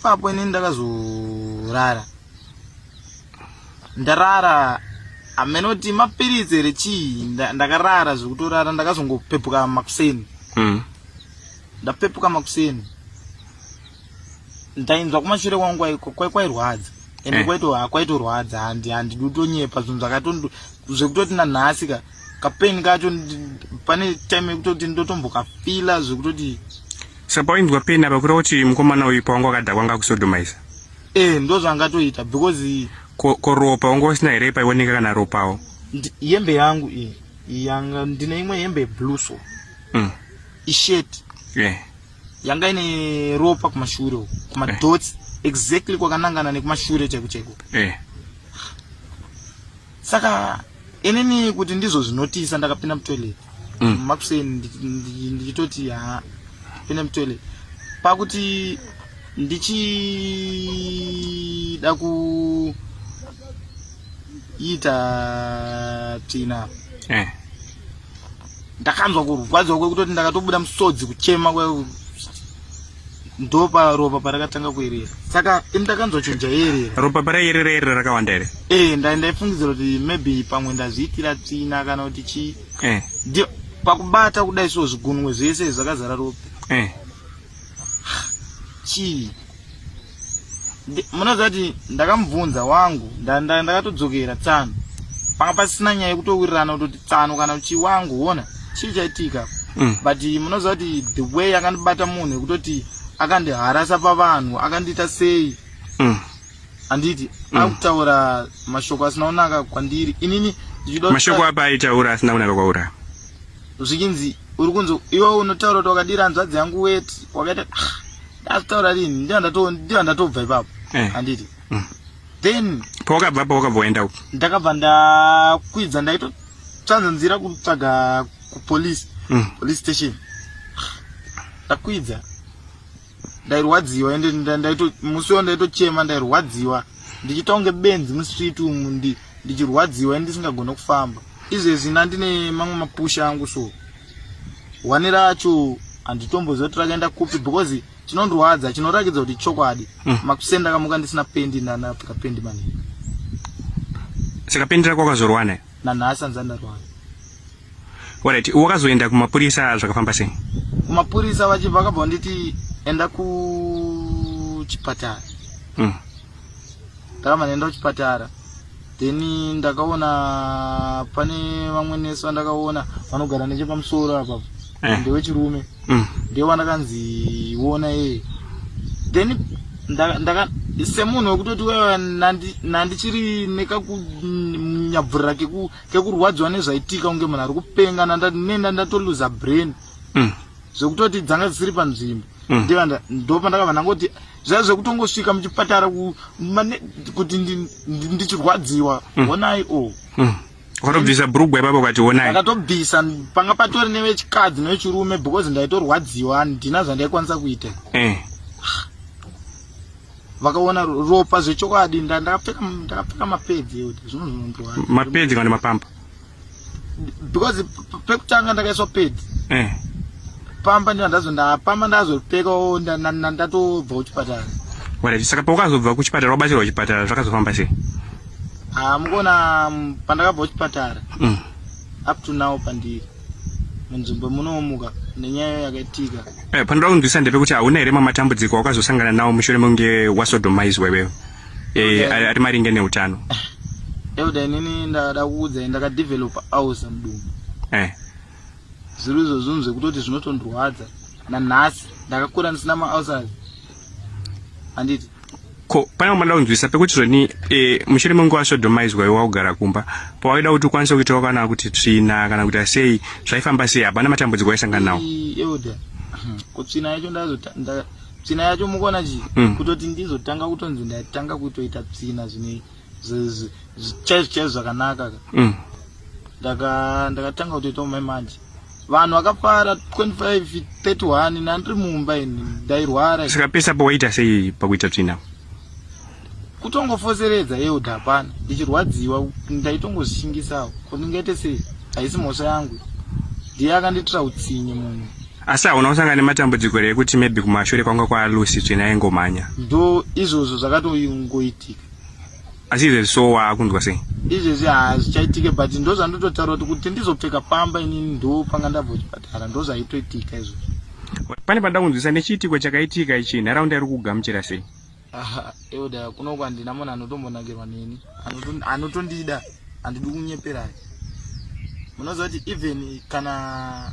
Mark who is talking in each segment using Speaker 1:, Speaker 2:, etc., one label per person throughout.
Speaker 1: ipapo ini ndakazorara ndarara amene kuti mapiritsi here chii ndakarara zvekutorara ndakazongopepuka makuseni hmm. ndapepuka makuseni ndainzwa kumashure kwangu kwairwadza ende eh. kwaitorwadza handi handi dutonyepa zvinhu zvakatondo zvekutoti nanhasi ka kapain kacho pane time yekutoti ndotombokafila zvekutoti saka pawainzwa
Speaker 2: pain apa kureva kuti mukomana uyu pawanga wakadhakwa ngakusodomaisa e eh, ndo
Speaker 1: zvangatoita because ko ropa wanga
Speaker 2: usina here paioneka kana ropawo hembe yangu
Speaker 1: iyi yanga ndine imwe hembe yeblue so mm. ishet yeah. yanga ine ropa kumashure uku kumadots eh. exactly kwakanangana nekumashure chaiko chaiko eh. saka inini kuti ndizvo zvinotisa ndakapinda mutoilet mm. makuseni ndichitoti ha pinda mutoilet pakuti ndichida kuita tsvina eh. ndakanzwa kurwadziwa kwekutoti ndakatobuda musodzi kuchema ndoparopa parakatanga kuerera saka ini ndakanzwa chinhu chaierera ropa paraierera erera
Speaker 2: rakawanda here ee eh, ndaifungidzira
Speaker 1: kuti maybe pamwe ndazviitira tsvina kana kuti chii eh. pakubata kudai so zvigunwe zvese zvakazara ropa eh. chii munoziva kuti ndakamubvunza wangu ndakatodzokera tsano panga pasina nyaya yekutowirirana kutoti tsano kana kuti wangu wona chii chaitika mm. but munoziva kuti the way akandibata munhu yekutoti akandiharasa pavanhu akandiita sei mm. handiti mm. akutaura mashoko asina kunaka kwandiri inini mashoko apa
Speaker 2: aitaura asina kunaka kwauri zvikinzi
Speaker 1: uri kunzi iwe unotaura kuti wakadira hanzvadzi yangu weti wakaita ah. ndazitaura rini ndiyo ndatobva ipapo eh. handiti mm. then pawakabva pa wakabva
Speaker 2: waenda uku ndakabva
Speaker 1: ndakwidza ndaitotsvanza nzira kutsvaga kupolice mm. police station ndakwidza ndairwadziwa ende musi wo ndaitochema ndairwadziwa ndichitonge benzi mustreet umu ndichirwadziwa ende ndisingagone kufamba izvezvi ndandine mamwe mapusha angu so one racho handitombozoti rakaenda kupi because chinondrwadza chinorakidza kuti chokwadi mm. makusenda kamuka ndisina pendi ndanapika pendi maningi
Speaker 2: saka pendi rako wakazorwana nanhasi anza ndarwana orit wakazoenda kumapurisa zvakafamba sei kumapurisa
Speaker 1: vachibva vakabva vanditi enda kuchipatara mm. ndakabva ndaenda kuchipatara then ndakaona pane vamwe nesi vandakaona vanogara nechepamusoro apa eh. ndewechirume mm. ndiye wandakanzi iona ee then semunhu wekutoti wewe nandichiri nekakunyabvurira kekurwadziwa nezvaitika kunge munhu ari kupenga nenda ndatoluza brain mm. zvekutoti dzanga dzisiri panzvimbo mm. ndopa ndakabva ndangoti mm. zvaiva zvekutongosvika muchipatara kuti ndichirwadziwa mm. honai o oh. mm.
Speaker 2: wakatobvisa brugwa ipapo ukati honai akatobvisa panga
Speaker 1: patori nevechikadzi nevechirume because ndaitorwadziwa handina zvandaikwanisa kuita eh. vakaona ropa zvechokwadi ndakapfeka mapedzi mapedzi kana mapamba because pekutanga ndakaiswa pedi eh. pamba ndiva ndazo ndapamba ndazopekawo ndatobva kuchipatara right saka
Speaker 2: paukazobva kuchipatara wabatsirwa kuchipatara zvakazofamba sei ah, mukuona
Speaker 1: mm, pandakabva kuchipatara mm. up to now pandiri munzvimbo munoomuka nenyaya yakaitika eh, panoda kunzwisa
Speaker 2: ndepekuti hauna here mamatambudziko wakazosangana nawo mushure mekunge wasodomaizwa iwewe eh ari ari maringe neutano Elder
Speaker 1: inini ndada kuudza ndaka develop house mudumbu eh zviri izvo zvinhu zvekutoti zvinotondrwadza nanhasi ndakakura ndisina maulcers handiti ko
Speaker 2: pane wamada kunzwisa pekuti zvoni e, mushure menguva sodomaidzwa iwe wakugara kumba pawaida kuti ukwanise kuitawo kana kuti tsvina kana kuti asei zvaifamba sei hapana matambudziko waisangana nawo Ii, elder
Speaker 1: kutsvina yacho ndazo tsvina yacho mukona chii mm. kutoti ndizotanga kutonzi ndatanga kutoita tsvina zvine chaizvo chaizvo zvakanaka ka mm. ndakatanga kutoita umai manje vanhu vakapara 25 31 nandiri mumba ini ndairwara sikapesa pawaita
Speaker 2: sei pakuita tsvina kutongofoseredza
Speaker 1: elder hapana ndichirwadziwa ndaitongozvishingisawo ko ndingaite sei haisi mhosva yangu ndiye akandiitira utsinye munhu asi
Speaker 2: hauna kusangana nematambudziko here ekuti maybe kumashure kwanga kwalucy tsvene aingomhanya ndo izvozvo
Speaker 1: zvakatongoitika asi
Speaker 2: izvezvi so waakunzwa sei izvezvi hazvichaitike
Speaker 1: but ndo zvandototaura kuti kuti ndizopfeka pamba inini ndo panga ndabva kuchipatara ndo zvaitoitika izvozvo pane panoda
Speaker 2: kunzwisa nechiitiko chakaitika ichi nharaunda iri kugamuchira sei Aha, euda
Speaker 1: kuno kwandina munhu anotombonakirwa neni anotondida handidi kunyepera munoziva kuti even kana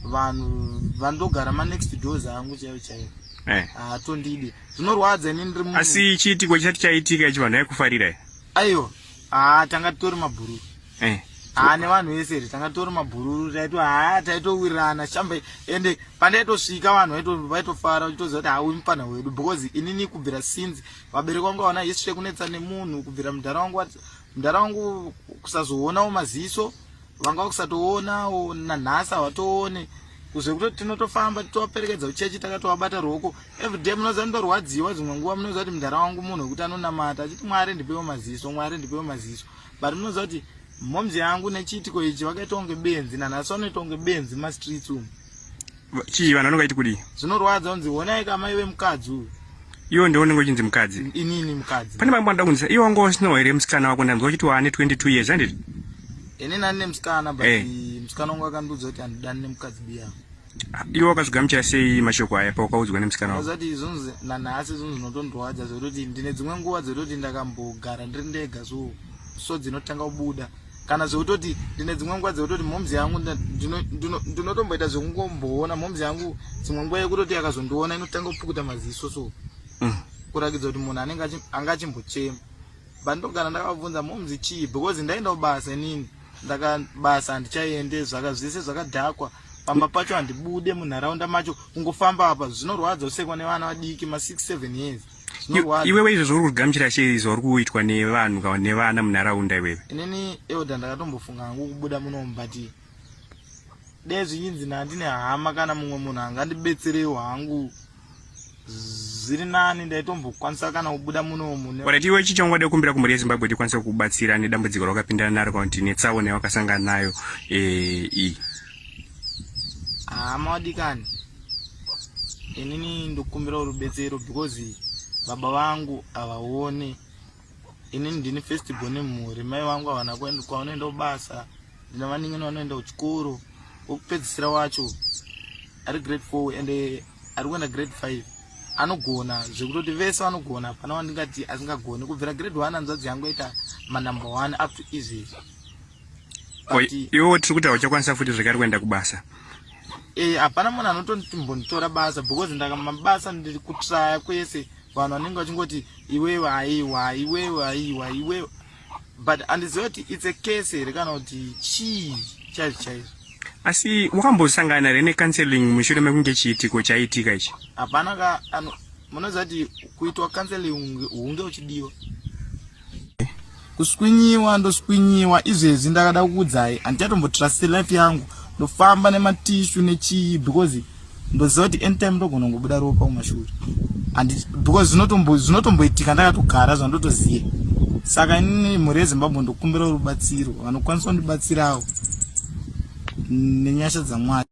Speaker 1: vanhu vandogara manext doors angu chaivo chaivo eh. haatondidi zvinorwadza ini ndiri asi chiitiko chati
Speaker 2: chaitika ichi vanhu aikufarira aiwa
Speaker 1: haa tanga titori mabhururu eh. haa nevanhu vese ri tanga titori mabhururu taito haa taitowirirana shambe ende pandaitosvika vanhu vaitofara uchitoziva kuti haa uyu mupfanha wedu because inini kubvira since vabereki vangu vaona history yekunetsa nemunhu kubvira mudhara wangu mudhara wangu kusazoonawo maziso vanga vakusatoonawo nanhasi havatoone kuzve kutoti tinotofamba titovaperekedza kuchechi takatovabata ruoko everyday munoziva ndorwadziwa dzimwe nguva munoziva kuti mudhara wangu munhu wekuti anonamata achiti mwari ndipewo maziso mwari ndipewo maziso but munoziva kuti momzi yangu nechiitiko ichi vakaita kunge benzi nanhasi vanoita kunge benzi mumastreets umu chii
Speaker 2: vanhu vanongaiti kudii zvinorwadza unzi honai
Speaker 1: kamai vemukadzi uyu iwo ndiwo unenge uchinzi
Speaker 2: mukadzi inini mukadzi pane
Speaker 1: vamwe vanoda kunzisa iwo wanga
Speaker 2: usinawo here musikana wako ndanzwa uchiti waane 22 years anditi ini nani
Speaker 1: nemusikana but eh. musikana wangu akandiudza kuti handidani nemukadzi biya ah, iwo wakazvigamuchira
Speaker 2: sei mashoko aya pawakaudzwa nemusikana wako zati zvonzi nanhasi
Speaker 1: zvonzi zvinotondorwadza zvekutoti ndine dzimwe nguva dzekutoti ndakambogara ndiri ndega so so dzinotanga kubuda kana zvekutoti ndine dzimwe nguva dzekutoti moms yangu ndinotomboita zvekungomboona moms yangu dzimwe nguva yekutoti akazondiona inotanga kupukuta maziso so mm. kurakidza kuti munhu anenge anga achimbochema but ndogara ndakabvunza moms chii because ndaenda kubasa inini ndakabasa handichaende zvaka zvese zvakadhakwa pamba pacho handibude munharaunda macho kungofamba apa zvinorwadza usekwa nevana vadiki ma67 years iwewe izvo
Speaker 2: zvauri kugamuchira sei zvauri kuitwa nevanhu nevana munharaunda iwewe inini euda
Speaker 1: ndakatombofunga hangu kubuda munomu but dee zvinyinzi nandine hama kana mumwe munhu angandibetserewo hangu zviri nani ndaitombokwanisa kana kubuda munomu orit iwe chi chaungade
Speaker 2: kumbira kumhuri yezimbabwe kuti ikwanise kubatsira nedambudziko rawakapindana naro kana kuti netsaona yawakasangana nayo eh, iyi
Speaker 1: hama wadikani inini ndokumbira rubetsero because baba vangu havaone inini ndini first born mhuri mai vangu havana kuenda kwavanoenda kubasa ndina vaningini vanoenda kuchikoro wokupedzisira wacho ari grade four and eh, ari kuenda grade five anogona zvekutoti vese vanogona hapana wandingati asingagoni kubvira grade one hanzvadzi yangu yaita manumber one up to izvezvi
Speaker 2: iwewo tiri kuti hauchakwanisa futi zvekari kuenda kubasa eh, hapana
Speaker 1: munhu anotombonditora basa because ndakamabasa ndiri kutraya kwese vanhu vanenge vachingoti iwewe aiwa iwewe aiwa iwewe but andiziva kuti its a case here kana kuti chii chaizvo chaizvo asi
Speaker 2: wakambosangana here necounseling mushure mekunge chiitiko chaiitika ichi hapana ka
Speaker 1: munoziva kuti kuitwa counseling hunge uchidiwa kuswinyiwa ndoswinyiwa izvezvi ndakada kukudzai handichatombotrust life yangu ndofamba nematishu nechii because ndoziva kuti anytime ndogona kungobuda ropa kumashuri because zvinotomboitika ndakatogara zvandotoziva saka inini mhuri yezimbabwe ndokumbira rubatsiro vanokwanisa kundibatsirawo nenyasha dzamwari